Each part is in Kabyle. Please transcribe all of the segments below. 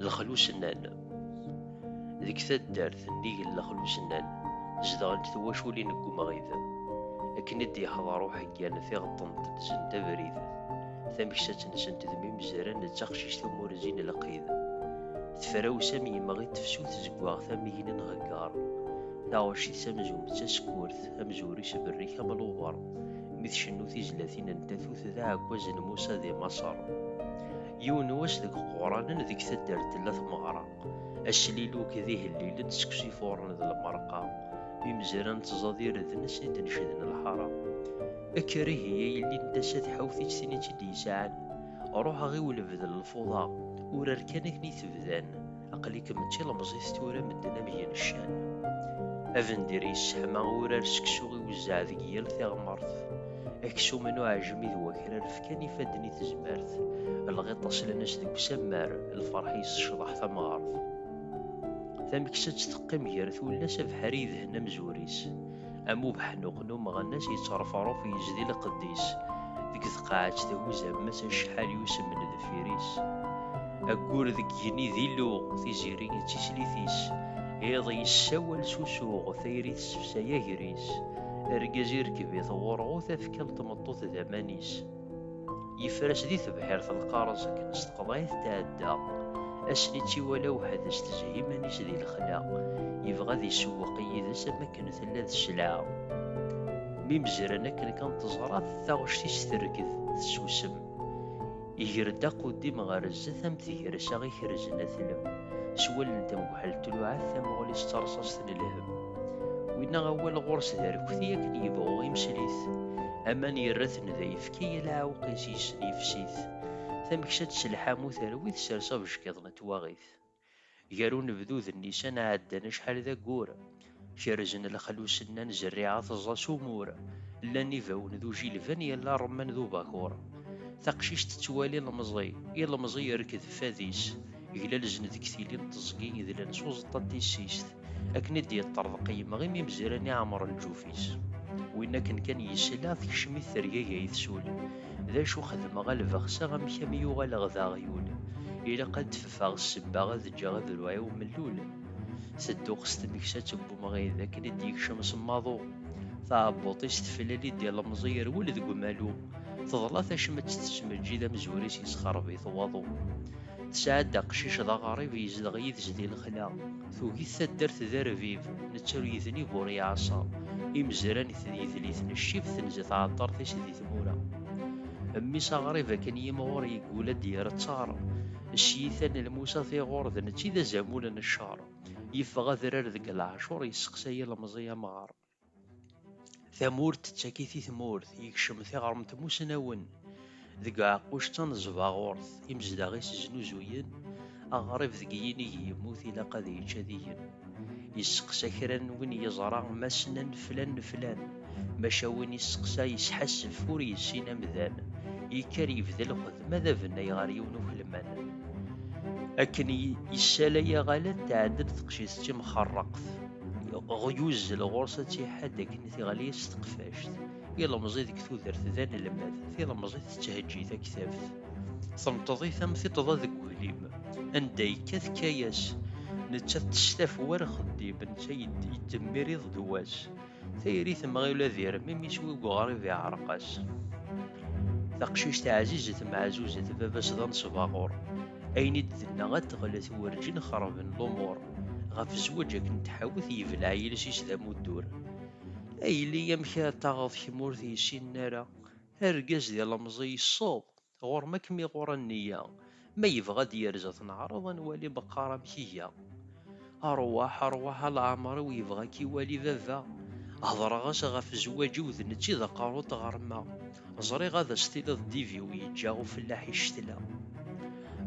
Lexlusennan Deg taddart nnig n Lexlusennan, zedɣent twaculin n umɣid. Akken i d-yeḥḍer uḥeggan, tiɣeṭṭent ddzent abrid. Tameksat-nsent d mimezran d taqcict umurzi n lqid. Tefrawes am yemɣi n tefsut zeggaɣ tamigna n heggar. Taɣecit-s amzun d tasekkurt, amzur-is berrik am luber. mi tcennu tizlatin n tatut d aɛekkaz n Musa di Maṣer. Yiwen n wass deg Quranen deg taddart tella tmeɣra, asliluk d ihellilen seg usifuren d lmerqa, imezra n tẓadir d nes i d-necden lḥara. Ekker ihi a yelli n tasa tḥawt-itt tin i tt-id-yesɛan, ruḥ aɣ i ulebd n lfuḍa, urar kan akken i t-bdan. aql-ikem d tilemẓit tura medden am yeneccan abendir yesseḥma urar seksu i wezzeɛ deg yal tiɣmert aksum n uɛejmi d wakrar fkan ifadden i tezmert lɣiṭ aslan-as deg usammar lferḥ yessecḍeḥ tamɣart tameksa-tt teqqim gar tullas abeḥri yedhen amzur-is am ubeḥnuq n umeɣnas yettṛefṛuf yezdi lqedd-is deg tqaɛet thuzz ammas acḥal yusemen deffir-is ayyur deg yigenni d iluɣ tiziri d tislit-is iḍ yessawal s usuɣ tayri tessefsay ager-is argaz irekb-it ɣurɣu tafekka n tmeṭṭut d aman-is Yefres di tebḥirt lqareẓ akken s teqḍayt tɛedda. Asli tt-iwala weḥd-s tezhi iman-is di lexla. Yebɣa ad isewweq yid-s am akken tella d sselɛa. Mi mezran akken kan teẓra-t, taɣect-is terked, tessusem. Iger-d aquddim ɣer zdat am tgersa ikerzen atlem. S wallen n tmegḥelt tluɛa-t tamuɣli-s d tarṣaṣt n lhem. Winna awal ɣur-s d arkti akken yebɣu imsel-it. Aman yerra-t Nda yefki yal aɛewqis yessen yefsi-t, tameksa d telḥamu terwi tsers abeckiḍ n twaɣit. Gar unebdu d nnisan ɛeddan acḥal d aggur, kerzen lexlus nnan zerriɛa teẓẓa s umur, llan ibawen d ujilban yal aṛemman d ubakuṛ. Taqcict tettwali ilemẓi, ilemẓi irked fad-is, glalzen deg tili n teẓgi idlan s uẓeṭṭa n tissist. akken i d-yeṭṭerḍeq yemɣi mi mezran iɛemren lǧuf-is. Win akken kan yesla, tekcem-it tergagi ay tsul, D acu xedmeɣ a lbeɣs-a, amek a m-yuɣaleɣ d aɣyul? Ilaq ad d-fefeɣ ssebba ad ǧǧeɣ adruɛ-iw mellul. Tedduɣ s tmeksat n wemɣi, d akken i d-yekcem s maḍu. Taɛebbuḍt-is teflali-d ilemẓi yerwel deg umalu, teḍla tacmat tettmeǧǧid amezwir-is yessexreb-it waḍu. Tesɛa-d aqcic d aɣrib yezdeɣ yid-s di lexla. Tugi-t taddart d arbib, netta ur yednib ur yeɛṣa, imezran-it d yedliten, ccib tenza tɛeṭṭert-is di tmura. Mmi-s aɣrib akken yimɣur yeggul ad d-irettaṛ, cciyita n lmusa tiɣur d netta i d azamul n cceṛ. Yeffeɣ adrar deg leɛcuṛ, yesseqsa ilemẓi amɣaṛ. Tamurt tettak-it i tmurt, yekcem tiɣremt mussnawen deg uɛeqquc d taneẓbaɣurt, imezdaɣ-is znuzuyen aɣrib deg yinig yemmut ilaq ad yečč ad igen. Yesseqsa kra n win yeẓra ma ssnen flan n flan, maca win yesseqsa yesḥassef ur yessin amdan, yekker yebda lxedma d abennay ɣer yiwen ukelman. Akken yessalay aɣalad tɛeddel teqcict d timxerreqt, Ɣyuz lɣurs ad tiḥad akken tiɣli s teqfact. Ilemẓi deg tudert d anelmad, tilemẓit tetthejji taktabt. Tenṭeḍit am tiṭḍa deg uglim, anda yekka tekka-yas. Nettat testaf war xeddim, netta yeddemmir iḍ d wass. Tayri temɣi ula d irem, imi s wig uɣrib iɛreq-as. Taqcict ɛzizet meɛzuzet, baba-s d anesbaɣur. ayen i d-tenna ad teɣlet werǧin xerben lumuṛ ɣef zzwaǧ akken tḥawet yebleɛ yiles-is d amuddur. A yelli amek ara taɣeḍ kemm ur t-yessinen ara, argaz d ilemẓi yesseḍ, ɣur-m ad kem-iɣur a nniya, ma yebɣa ad d-yerz ad t-neɛreḍ ad nwali meqqar amek iga. Arwaḥ, arwaḥ a Lɛamṛ-iw yebɣa a k-iwali baba. Hedreɣ-as ɣef zzwaǧ-iw d nečč i d aqerru n tɣerma. Ẓriɣ ad as-tiniḍ Diviw yeǧǧa ufellaḥ i ccetla.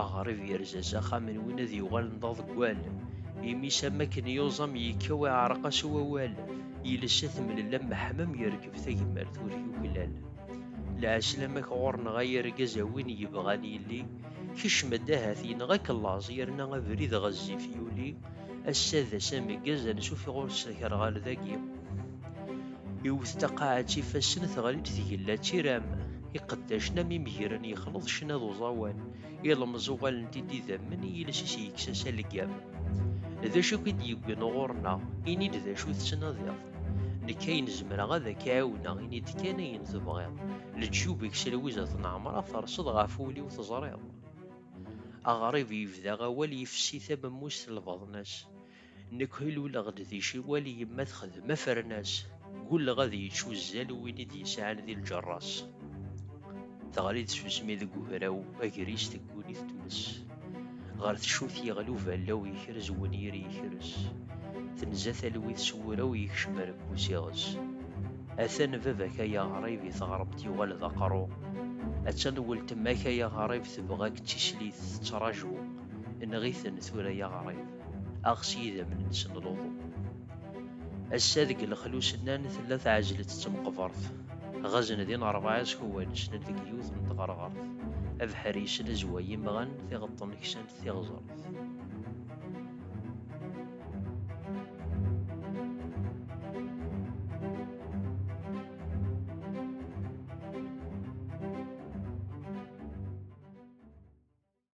Aɣrib yerza s axxam n win ad yuɣalen d aḍeggal. Imi-s am akken yuẓam yekkaw iɛreq-as wawal. Iles a t-mlel am meḥmam yerkeb tagmert ur yuklal. Lɛeslamak ɣur-neɣ ay argaz a win yebɣan yelli. Kecm-d ahat yenɣa-k laẓ yerna abrid ɣezzif yuli, ass-a d ass ameggaz ansuf ɣur-s akerɣal dagi. Iwet taqaɛet ifassen teɣli-d tgella d tiram, iqeddacen am imegren yexleḍ ccna d uẓawan, ilemẓ uɣalen-t-id idammen i yiles-is yekkes-as aleggam. D acu i k-id-yewwin ɣur-neɣ? Ini-d d acu tettnadiḍ? Nekk ayen zemreɣ ad ak-ɛiwneɣ, ini-d kan ayen tebɣiḍ. Leǧyub-ik s Lwiza At Nɛemṛa terseḍ ɣef wul-iw teẓriḍ. Aɣrib yebda awal yefsi tamemmust n lbaḍna-s. Nekk luleɣ-d di ciwal yemma texdem afernas. Gulleɣ ad yečč uzzal win i d-yesɛan di lǧerra-s. Teɣli-d tsusmi deg ugraw agris tegguni-t tmes. Ɣer tcut yeɣli uballaw yekrez wenyir yekrez. Tenza talwit s wuraw yekcem rekkus iɣes. Atan baba-k ay aɣrib i teɣremt yuɣal d aqerru. Attan weltma-k ay aɣrib tebɣa-k d tislit tettraǧu. Enɣ-iten tura ay aɣrib. aɣ s yidammen-nsen n luḍu. Ass-a deg lexlus-nnan tella tɛejlet d temqebert, ɣazen din rebɛa iskuwan ssnen deg yiwet n tɣerɣert, abeḥri yesnezway imɣan, tiɣeṭṭen ksant tiɣzert.